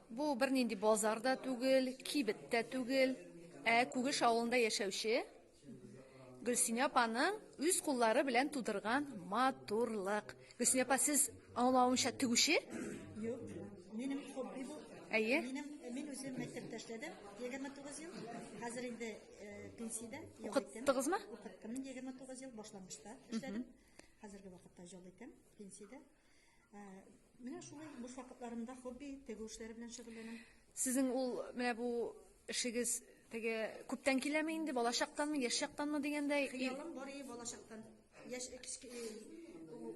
Бу бернинди базар да түгел, кибет тә түгел, ә Күгеш авылында яшәүче Гөлсинә апаның үз куллары белән тудырган матурлык. Гөлсинә апа, сез аңлавымча тегүче? Юк, минем хобби бу. Әйе. Минем мин үзем мәктәптә эшләдем 29 ел. Хәзер инде э, пенсиядә. Укыттыгызмы? Укыттым 29 ел башлангычта эшләдем. Хәзерге вакытта җол итәм пенсиядә. Менә шулай буш вакытларымда хобби тегү эшләре белән шөгыльләнәм. Сезнең ул менә бу эшегез теге күптән киләме инде, балачактанмы, яшь чактанмы дигәндәй? Хыялым бар иде балачактан. Яшь кичке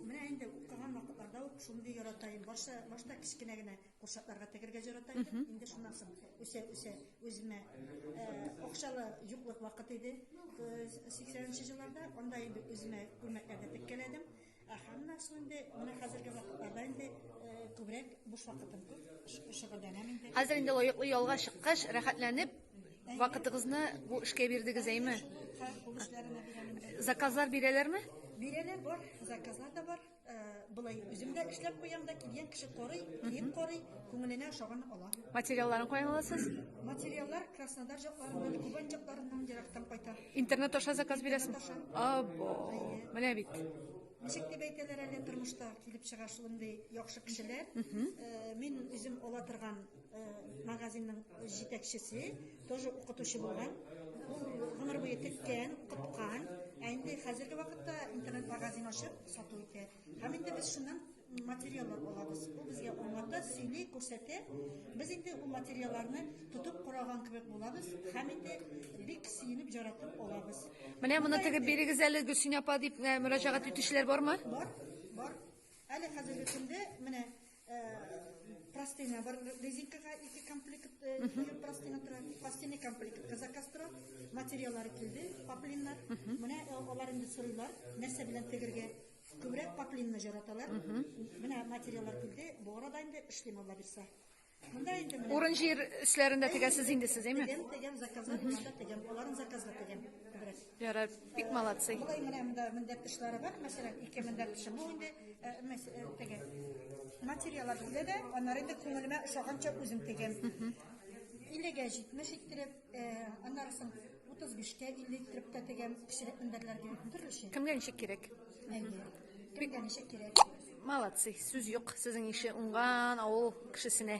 менә инде укыган вакытларда ук шундый ярата идем. Башта башта кечкенә генә курчакларга тегергә ярата идем. Инде шуннан соң үсә үсә үземә акчалы юклык вакыт иде. 80 нче елларда анда инде үземә күлмәкләрдә теккәләдем. Ә Ханна су инде менә хәзерге вакытларда инде күбрәк буш вакытым күп шөгыльләнәм инде. Хәзер инде лаеклы ялга чыккач, рәхәтләнеп вакытыгызны бу эшкә бирдегез, әйме? Заказлар бирәләрме? Бирәләр бар, заказлар да бар. Болай үзем дә эшләп куям да, килгән кеше карый, кием карый, күңеленә ошаганны ала. Материалларын каян аласыз? Материаллар Краснодар җакларыннан, Кубань җакларыннан ерактан кайта. Интернет аша заказ бирәсез? Або. Менә бит. Ничек дип әйтәләр әле тормышта килеп чыга шундый яхшы кешеләр. Э, мин үзем ала торган э, магазинның җитәкчесе, тоже укытучы булган. Ул гомер буе теккән, укыткан. Ә инде хәзерге вакытта интернет магазин ачып сату итә. Һәм инде без шуннан материаллар алабыз. Ул безгә аңлата, сөйли, күрсәтә. Без инде ул материалларны тотып караган кебек булабыз һәм инде бик сөенеп яратып алабыз. Менә моны тегеп бирегез әле Гөлсин апа дип э, мөрәҗәгать итүчеләр бармы? Бар, бар. Әле хәзерге көндә менә простыня бар резинкага ике комплект простыня тора простыня комплектка заказ тора материаллары килде поплиннар менә алар инде сорыйлар нәрсә белән тегергә күбрәк поплинны жараталар менә материаллар килде бу арада инде эшлим алла бирсә Монда инде менә. Урын җир эшләрендә тегәсез инде сез, әйме? Тегәм, тегәм заказлар, тегәм, аларның заказлары тегәм. Ярар, бик молодцы. Бу менә монда мендәп тышлары бар, мәсәлән, ике мендәп тышы. Бу инде э, э, теге материаллар бүлә дә, аннары инде күңелемә ошаганча үзем тегәм. 50-гә 70 иттереп, э, аннары соң 35-кә 50 иттереп тә тегәм, кечерәк мендәрләргә төрлечә. Кемгә ничек кирәк? Әйе. Кемгә ничек кирәк? Молодцы, сүз юк. Сезнең ише уңган авыл кешесенә.